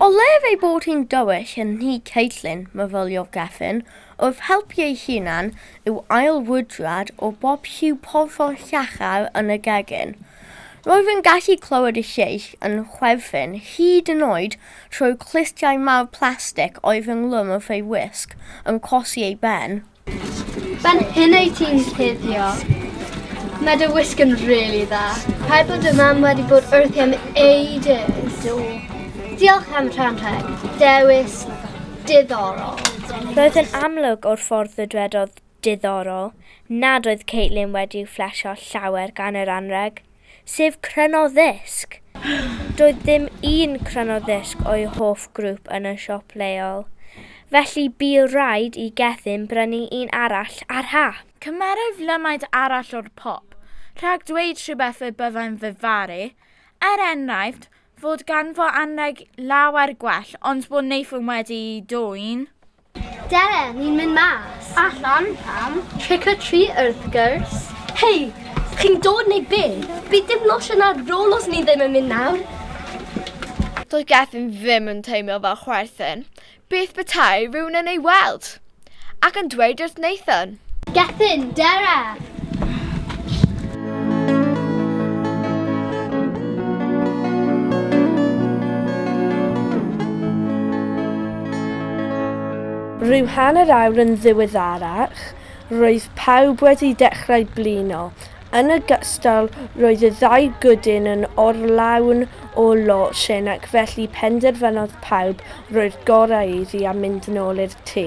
O lef ei bod hi'n dywyll yn nhŷ Caitlin, myfyliog Gefin, wrth helpu ei hunan yw ail wydrad o bob lliw porffor llachar yn y gegin. Roedd yn gallu clywed y lleill yn chwerthin hyd yn oed trwy clustiau mawr plastig oedd ynghlwm wrth ei wisg, yn cosi ei ben. Ben hyn ei ti'n cuddio. Mae dy wisg yn really dda. Rhaid bod dy mam wedi bod wrthi am ages. Do. Diolch am rhan rheg. Dewis diddorol. Roedd yn amlwg o'r ffordd y dwedodd diddorol nad oedd Caitlin wedi'u fflesio llawer gan yr anrheg, sef cryno ddisg! Doedd dim un cryno ddisg o'i hoff grŵp yn y siop leol, felly bu raid i Gethin brynu un arall ar hap. Cymerai'f lymaid arall o'r pop, rhag dweud rhywbeth y byddai'n fy faru, er enghraifft, fod ganddo anrheg lawer gwell ond bod Nathan wedi'i dwyn. Dere, ni'n mynd mas. Allan? Pam? Trick or treat wrth gwrs. Hei, chi'n dod neu be? Bydd dim lotion ar rôl os ni ddim yn mynd nawr. Doedd Gethin ddim yn teimlo fel chwerthin. Beth petai rhywun yn ei weld? Ac yn dweud wrth Nathan? Gethin, Dara! Rhyw hanner awr yn ddiweddarach, roedd pawb wedi dechrau blino. Yn ogystal, roedd y ddau gwdyn yn orlawn o lotion ac felly penderfynodd pawb roi'r gorau iddi a mynd yn ôl i'r tŷ.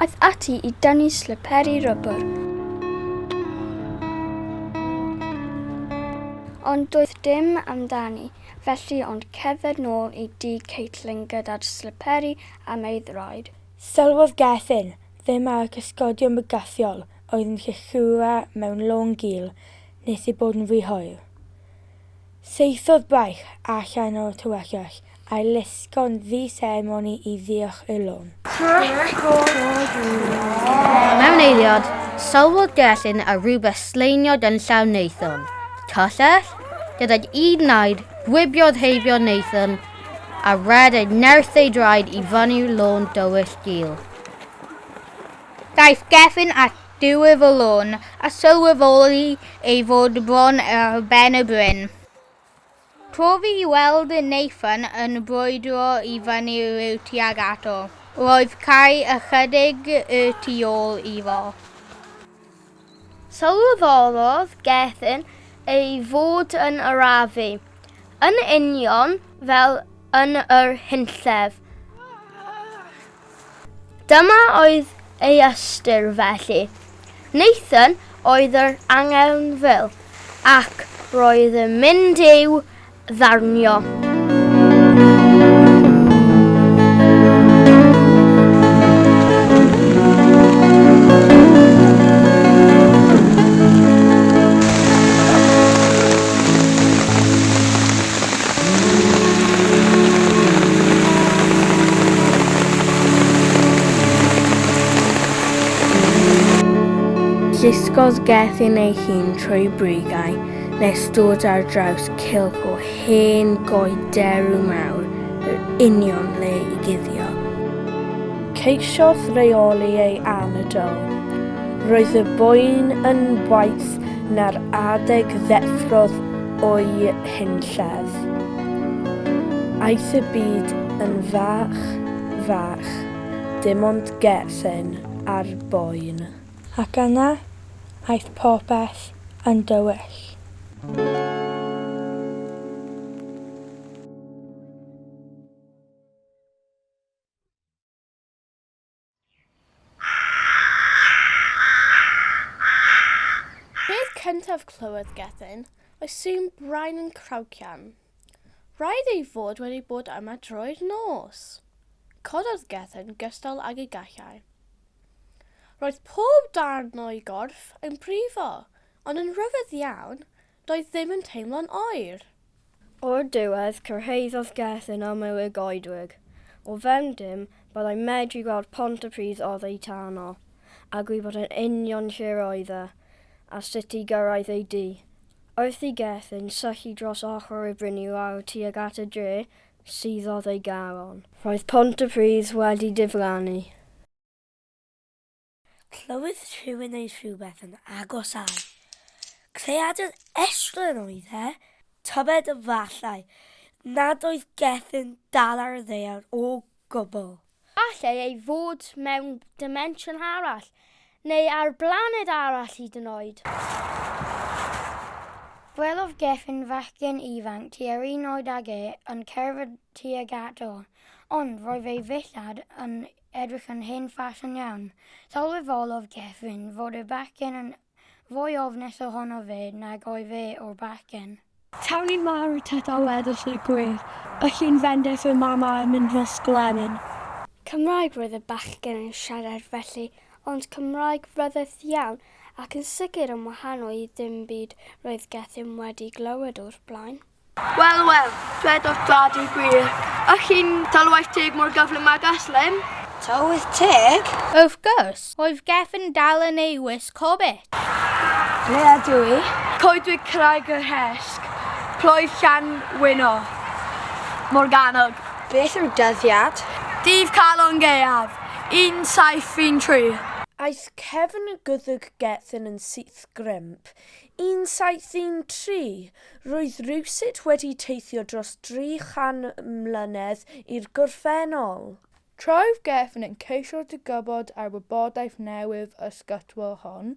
Aeth ati i dynnu slyperi rybr. Ond doedd dim amdani, felly ond cerdded nôl i dŷ Caitlin gyda'r slyperi am ei ddroed. Sylwodd Gethin ddim ar y cysgodion bygythiol oedd yn lluchura mewn long gul nes ei bod yn rhy hoer. Saethodd braich allan o'r tywyllwch a'i lusgo'n ddu seremoni i ddiolch i'r lôn. Mewn eiliad, sylwodd Gerllyn ar rywbeth slaeniod yn llaw Nathan. Cyllell? Gydag un naid, gwibiodd heibio Nathan, a rhed ei nerth ei draed i fyny'r lôn dywyll gul. Daeth Gerllyn at diwifrlwn, a sylweddoli ei fod bron ar ben y bryn. Profi i weld Nathan yn brwydro i fyny rhyw tuag ato. Roedd cae ychydig y tu ôl iddo. Sylweddolodd Gethin ei fod yn arafu, yn union fel yn yr hunllef. Dyma oedd ei ystyr felly. Nathan oedd yr angerfil ac roedd yn mynd i'w ddarnio. Llusgodd Gethin ei hun trwy brigau nes dod ar draws cylch o hen goed derw mawr yr union le i guddio. Ceisiodd reoli ei anadl. Roedd y boen yn waeth na'r adeg ddeffrodd o'i hunllef. Aeth y byd yn fach, fach, dim ond Gethin ar boen. Ac yna, aeth popeth yn dywyll. Peth cyntaf clywodd Gethin oedd sŵn brain yn craucian. Rhaid ei fod wedi bod yma drwy'r nos! Cododd Gethin gystal ag ei gallai. Roedd pob darn o'i gorff yn brifo, ond yn rhyfedd iawn, Doedd ddim yn teimlo'n oer. O'r diwedd, cyrhaeddodd Gerth yn aml y goedwig. O fewn dim, byddai medru gweld Pontypridd oddeitano, a gwybod yn union lle roedd e, a sut i gyrraedd ei dŷ. Wrth i Gerth yn syllu dros ochr y bryn i lawr tuag at y dre, suddodd ei galon. Roedd Pontypridd wedi diflannu. Clywyd rhywun ei rhywbeth yn agosáu. Creadur estren oedd e, tybed efallai nad oedd Gethin dal ar y ddaear o gwbl. Gallai ei fod mewn dimensiwn arall, neu ar blaned arall hyd yn oed. Gwelodd Gethin fachgen ifanc tua'r un oed ag e yn cerdded tuag ato, ond roedd ei ddillad yn edrych yn hen ffasiwn iawn. Sylweddolodd Gethin fod y bachgen yn fwy ofnus ohono fe nag oedd fe o'r bachgen. Cawn ni marw tŷ da weddill y gwir, y llun fendith y mam a'i mynd nos glenyn. Cymraeg roedd y bachgen yn siarad felly, ond Cymraeg ryfedd iawn, ac yn sicr yn wahanol i ddim byd roedd Gethin wedi glywed o'r blaen. Wel, wel, dwedodd Dad y gwir. Ych chi'n talwaith teg mor gyflym ag Aslem? Talwaith teg? Wrth gwrs! Roedd Gefn dal yn ei wisg hobbit. Ble ydw i? Coedwig Craig y Rhesg, Ploedd Llanwyno, Morgannwg. Beth yw dyddiad? Dydd Calon Gaeaf, 1713. Aeth cefn y gwddg Gethin yn syth grymp 173, roedd rywsut wedi teithio dros 300 mlynedd i'r gorffennol. Trwy'r gefn yn ceisio dygybod ar wybodaeth newydd ysgytwol hon,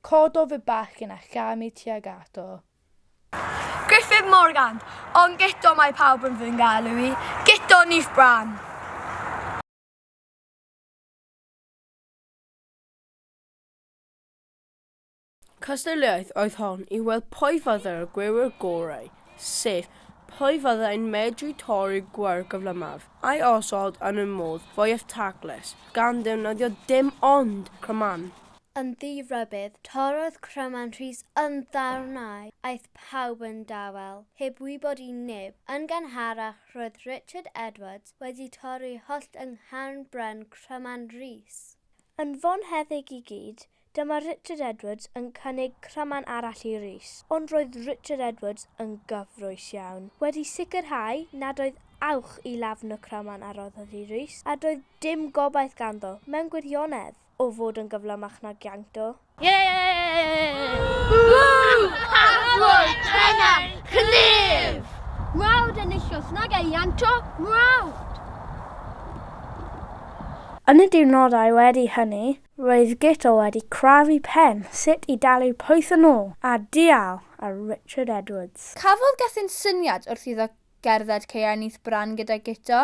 cododd y bachgen a chamu tuag ato. Gruffydd Morgan, Ond Guto mae pawb yn fy ngalw i, Guto Nyth Bran. Cystadleuaeth oedd hon i weld pwy fyddai'r gwiwer gorau, sef, pwy fyddai'n medru torri'r gwiwer gyflymaf, a'i osod yn y modd fwyaf taclus, gan ddefnyddio dim ond cryman. Yn ddi-rybudd, torrodd cryman Rhys yn ddarnau, aeth pawb yn dawel, heb wybod i neb. Yn gynharach, roedd Richard Edwards wedi torri hollt yng ngharn bren cryman Rhys. Yn fonheddig i gyd, Dyma Richard Edwards yn cynnig cryman arall i Rhys, ond roedd Richard Edwards yn gyffrous iawn, wedi sicrhau nad oedd awch i lafn y cryman a roddodd i Rhys, a doedd dim gobaith ganddo, mewn gwirionedd, o fod yn gyflymach na Gianto. Arglwydd Pennaeth Clwyd! Mrawd enillwch nag ei Ianto, mrawd! Yn y diwrnodau wedi hynny, Roedd Guto wedi crafu pen sut i dalu pwyth yn ôl a dial ar Richard Edwards. Cafodd Gethin syniad wrth iddo gerdded caeau nyth Bran gyda Guto.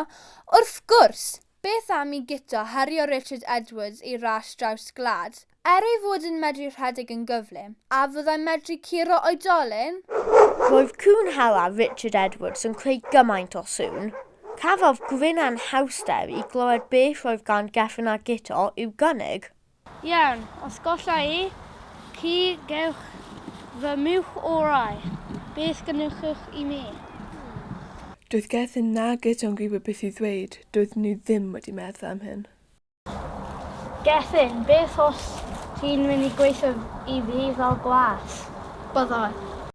Wrth gwrs! Beth am i Guto herio Richard Edwards i ras draws gwlad? Er ei fod yn medru rhedeg yn gyflym, a fyddai'n medru curo oedolyn? Roedd cŵn hela Richard Edwards yn creu gymaint o sŵn. Cafodd gwrin anhawster i glywed beth roedd gan Gefn a Guto i'w gynnig. Iawn, os golla i chi gewch fy mwch orau. Beth gynnwchwch i mi? Doedd Gefn na Guto'n gwybod beth i ddweud, doedden nhw ddim wedi meddwl am hyn. Gethin, beth os ti'n mynd i gweithio i fi fel gwas? Byddai.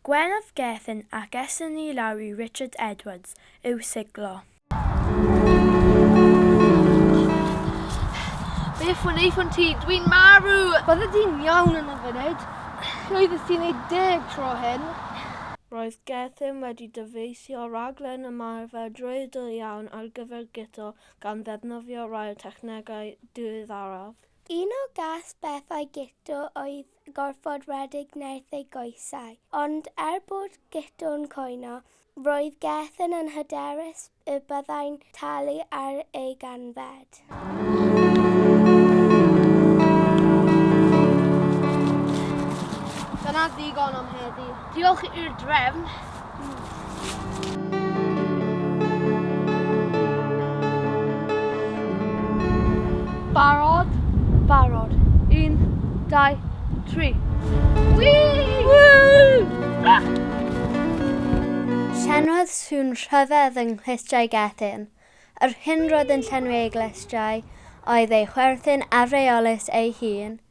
Gwelaf Gethin ac eson ni lawr i Richard Edwards i'w siglo. Beth wnaethon ti? Dwi'n marw! Bydde di'n iawn yn y funud. Llwyddes ti wneud deg tro hyn. Roedd Gethin wedi dyfeisio rhaglen ymarfer drwyadl iawn ar gyfer guto gan ddefnyddio rhai o'r technegau diweddaraf. Un o gast bethau Guto oedd gorfod rhedeg nerth ei goesau, ond er bod Guto'n cwyno, roedd Gethin yn hyderus y byddai'n talu ar ei ganfed. Dyna ddigon am heddi. Diolch i'r drefn. Barod? Barod. Un, dau, tri. Wii! Llenwodd sŵn rhyfedd yng Nghlustiau Gethin. Yr hyn roedd yn llenwi ei glustiau oedd ei chwerthin afreolus ei hun.